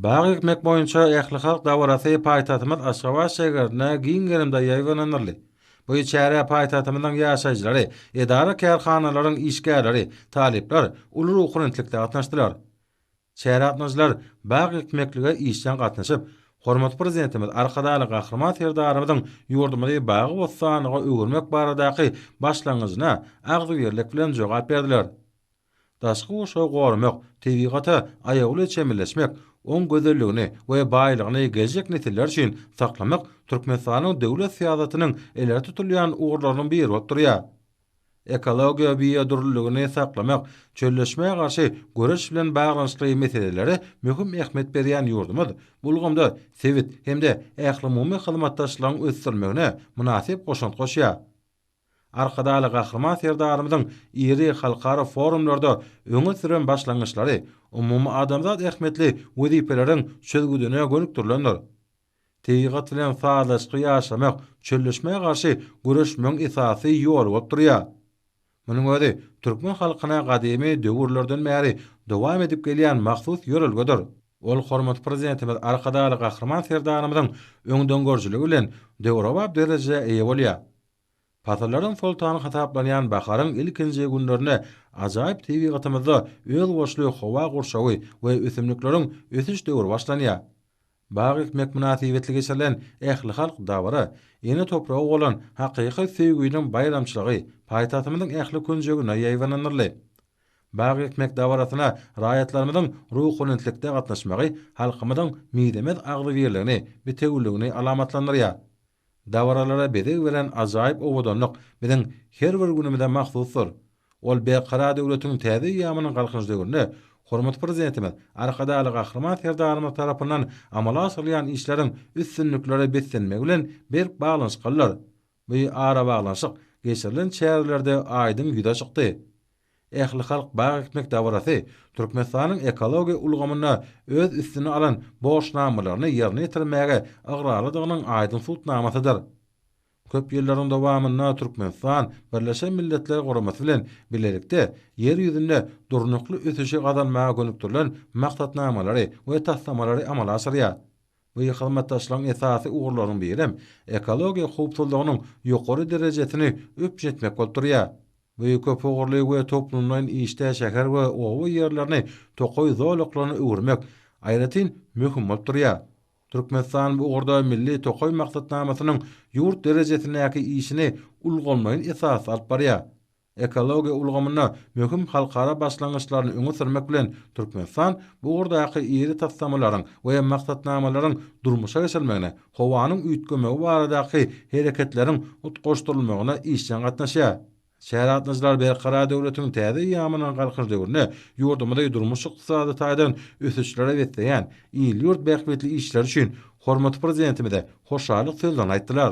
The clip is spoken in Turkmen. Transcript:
Bag ekmek boýunça ählihalk dabarasy paýtagtymyz Aşgabat şägerinde giň gerimde ýaýbaňlandyryldy. Bu çärä paýtagtymyzyň ýaşaýjylary, edara-kärhanalaryň işgärleri, talyplar uly ruhubelentlikde gatnaşdylar. Çärä gatnaşyjylar bag ekmeklige işjeň gatnaşyp, hormatly Prezidentimiz Arkadagly Gahryman Serdarymyzyň ýurdumyzy bagy-bossanlyga öwürmek baradaky başlangyjyna agzybirlik bilen jogap berdiler. Daşky gurşawy goramak, tebigata aýawly çemeleşmek, oň gözelligini we baýlygyny geljek nesiller üçin saklamak Türkmenistanyň döwlet syýasatynyň ileri tutulýan ugurlarynyň biri bolup durýar. Ekologiýa biodürlüligini saklamak, çölleşmä garşy göreş bilen baglanyşykly meselelere möhüm ähmiýet berýän ýurdumyz bu ulgamda sebit hem-de ählumumy hyzmatdaşlygyň ösdürilmegine mynasyp goşant goşýar. Arkadagly Gahryman Serdarymyzyň iri halkara forumlarda öňe süren başlangyçlary umumyadamzat ähmiýetli wezipeleriň çözgüdine gönükdirilendir. Tebigat bilen sazlaşykly ýaşamak çölleşmä garşy göreşmegiň esasy ýoly bolup durýar. Munuň özi türkmen halkyna gadymy döwürlerden bäri dowam edip gelýän mahsus ýörelgedir. Ol hormatly Prezidentimiz Arkadagly Gahryman Serdarymyzyň öňdengörüjiligi bilen döwrebap derejä eýe bolýar. Pasyllaryň soltany hasaplanýan baharyň ilkinji günlerine ajaýyp tebigatymyzda özboluşly howa gurşawy we ösümlikleriň ösüş döwri başlanýar. Bag ekmek mynasybetli geçirilen ählihalk dabara, ene topraga bolan hakyky söýgüniň baýramçylygy paýtagtymyzyň ähli künjegine ýaýbaňlandyryldy. Bag ekmek dabarasyna raýatlarymyzyň ruhubelentlikde gatnaşmagy halkymyzyň mizemez agzybirligini, bitewüligini alamatlandyrýar. Dabaralara bezeg beren ajaýyp owadanlyk biziň her bir günümize mahsusdyr. Ol Berkarar döwletiň täze eýýamynyň Galkynyş döwründe hormatly Prezidentimiz Arkadagly Gahryman Serdarymyz tarapyndan amala aşyrylýan işleriň üstünliklere beslenmegi bilen berk baglanyşyklydyr. Bu arabaglanyşyk geçirilen çärelerde aýdyň ýüze çykdy. Ählihalk bag ekmek dabarasy Türkmenistanyň ekologiýa ulgamynda öz üstüne alan borçnamalaryny ýerine ýetirmäge ygrarlydygynyň aýdyň subutnamasydyr. Köp ýyllaryň dowamynda Türkmenistan Birleşen Milletler Guramasy bilen bilelikde Ýer ýüzünde durnukly ösüşi gazanmaga gönükdirilen maksatnamalary we taslamalary amala aşyrýar. Bu hyzmatdaşlygyň esasy ugurlarynyň birem ekologiýa howpsuzlygynyň ýokary derejesini üpjün etmek bolup durýar. Bu köp ugurly we toplumlaýyn işde şäher we oba ýerlerini tokaý zolaklaryna öwürmek, aýratyn, möhüm bolup durýar. Türkmenistan bu ugurda Milli tokaý maksatnamasynyň ýurt derejesindäki işini ulgamlaýyn esasda alyp barýar. Ekologiýa ulgamynda möhüm halkara başlangyçlaryny öňe sürmek bilen, Türkmenistan bu ugurdaky iri taslamalaryň we maksatnamalaryň durmuşa geçirilmegine howanyň üýtgemegi baradaky hereketleriň utgaşdyrylmagyna işjeň gatnaşýar. Şäher gatnaşyklary Berkarar döwletiň täze eýýamynyň Galkynyş döwründe ýurdumyzy durmuş-ykdysady taýdan ösüşlere besleýän il-ýurt bähbitli işleri üçin hormatly Prezidentimize hoşallyk sözlerini aýtdylar.